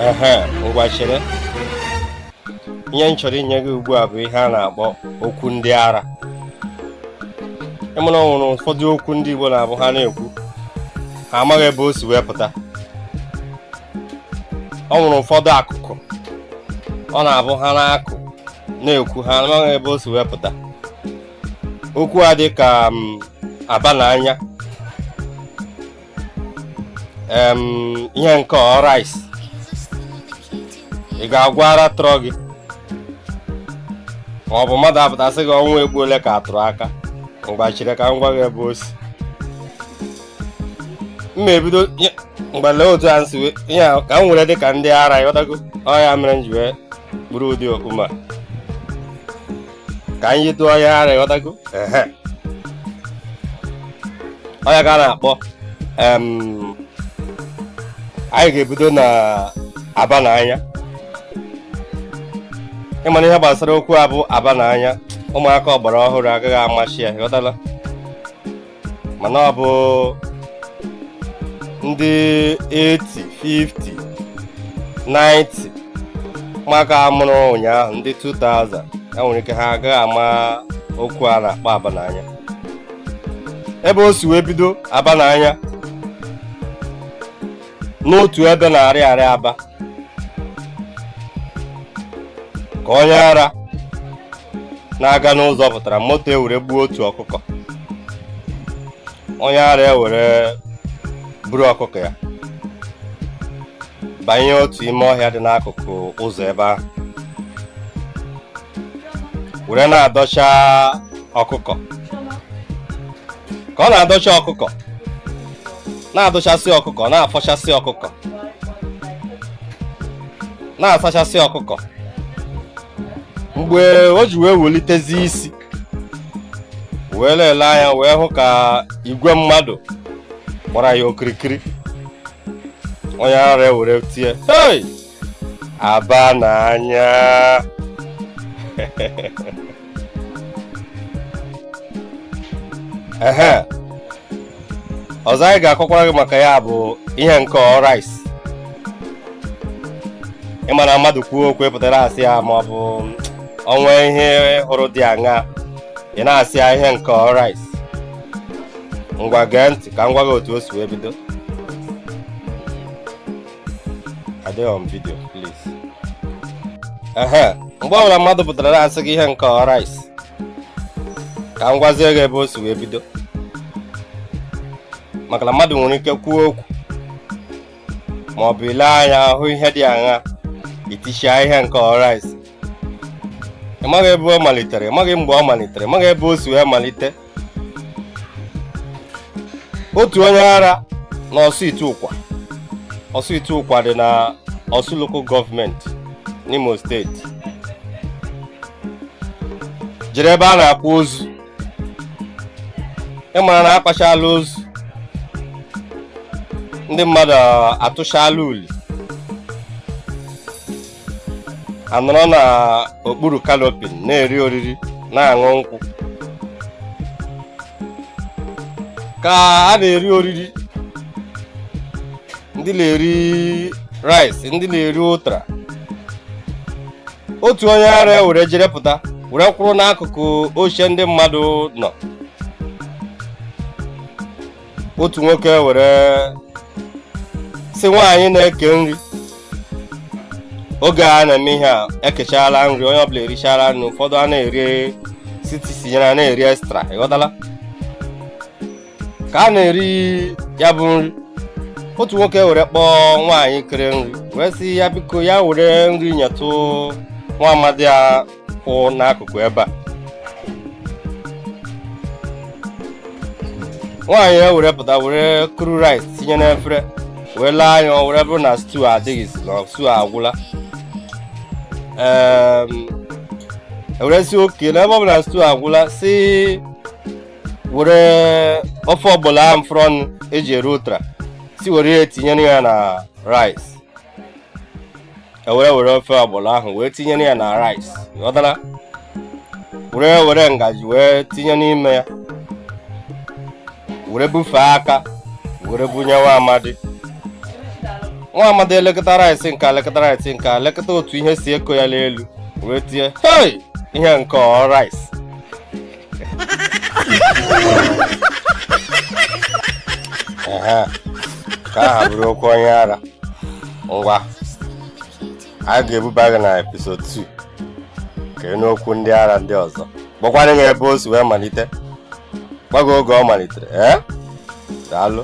ehe ngwa chere ihe m chọrọ inye gị ugbu a bụ ihe a na-akpọ okwu ndị ara ị ma na o nwere ụfọdụ okwu ndị Igbo na-abụ ha na-ekwu ha amaghị ebe o si wee pụta o nwere ụfọdụ akụkọ ọ na-abụ ha na-akọ na-ekwu ha amaghị ebe o si wee pụta okwu a dị ka mm, aba na anya ihe nke ọ rice ị ga-agwa ara tụrụ gị ma ọ bụ mmadụ apụta sị gị ọnwa egbu ole ka a tụrụ aka ngwa chere ka m gwa gị ebe o si mma ebido ngwa lee otu a m si yie ka m were dị ka ndị ara ị ghọtago ọ ya mere m ji wee buru ụdị okpu a ka anyị yitụ onye ara ị ghọtago ehe ọ ya ka a na-akpọ em, anyị ga-ebido na aba na anya ị ma na ihe gbasara okwu a bụ aba na anya ụmụaka ọgbara ọhụrụ agaghị amasị ya ị ghọtala mana ọ bụ ndị 80 50 90 ụmụaka a mụrụ ụnyaahụ ndị 2000 e nwere ike ha agaghị ama okwu a na-akpọ aba n'anya ebe o si wee bido aba n'anya n'otu ebe n'Ariaria Aba ka onye ara na-aga n'ụzọ pụtara moto ewere gbuo otu ọkụkọ onye ara ewere buru ọkụkọ ya banye otu ime ọhịa dị n'akụkụ ụzọ ebe ahụ were na-adọcha ọkụkọ ka ọ na-adọcha ọkụkọ na-adọchasị ọkụkọ na-afọchasị ọkụkọ na-asachasị ọkụkọ mgbe o ji wee welitezi isi wee lelee anya wee hụ ka igwe mmadụ gbara ya okirikiri onye ara ewere tie hey! aba n'anya ehe ọzọ anyị ga-akọkwara gị maka ya bụ ihe nke ọ rice ị ma na mmadụ kwuo okwu pụtara asị ya ma ọ bụ o nwee ihe ị hụrụ dị aṅaa ị na-asị ya ihe nke ọ rice ngwa gee ntị ka m gwa gị otu o si wee bido adịghị m video please ehe mgbe ọbụla mmadụ pụtara asị gị ihe nke ọ rice ka m gwazie gị ebe o si wee bido maka na mmadụ nwere ike kwuo okwu ma ọ bụ i lee anya hụ ihe dị aṅa i tie sị ihe nke ọ rice ị maghị ebe ọ malitere ị maghị mgbe ọ malitere ị maghị ebe o si wee malite otu onye ara na ọsụ ihiteụkwa ọsụ ihiteụkwa dị na ọsụ local government n'imo steeti jere ebe a na-akwa ozu ị mara na akwachala ozu ndị mmadụ atụchala uli anọrọ na okpuru canopy na-eri oriri na-aṅụ nkwụ ka a na-eri oriri ndị na-eri rice ndị na-eri ụtara otu onye ara ya were jere pụta were kwụrụ n'akụkụ oche ndị mmadụ nọ otu nwoke were sị nwaanyị na-eke nri oge a na-eme ihe a ekechala nri onye ọbụla erichala nri ụfọdụ a na-eri sị tinyere a na-eri extra ị ghọtala ka a na-eri ya bụ nri otu nwoke were kpọọ nwaanyị kere nri wee sị ya biko ya were nri nyetụ nwa amadi a kwụ n'akụkụ ebe a nwaanyị ya were pụta were kuru rice tinye n'efere wee lee anya ọ were bụrụ na stew adịghịzi na stew agwụla e were sị okay n'ebe ọ bụ na stew agwụla sị were ofe ọgbọlọ ahụ fọrọnụ eji eri ụtara sị were ya tinyere ya na rice ewere were ofe ọgbọlọ ahụ wee tinyere ya na rice ị ghọtala were were ngaji wee tinye n'ime ya were bufee aka were bunye nwa amadi nwa amadi elekata rice nke elekata rice nke elekata otu ihe si eko ya n'elu wee tie hei ihe nke ọ rice nke ahụ abụrụ okwu onye ara ngwa a ga-ebuba gị na episode 2 ka ị nụ okwu ndị ara ndị ọzọ gwakwanụ gị ebe o si wee malite gwa gị oge ọ malitere ee daalụ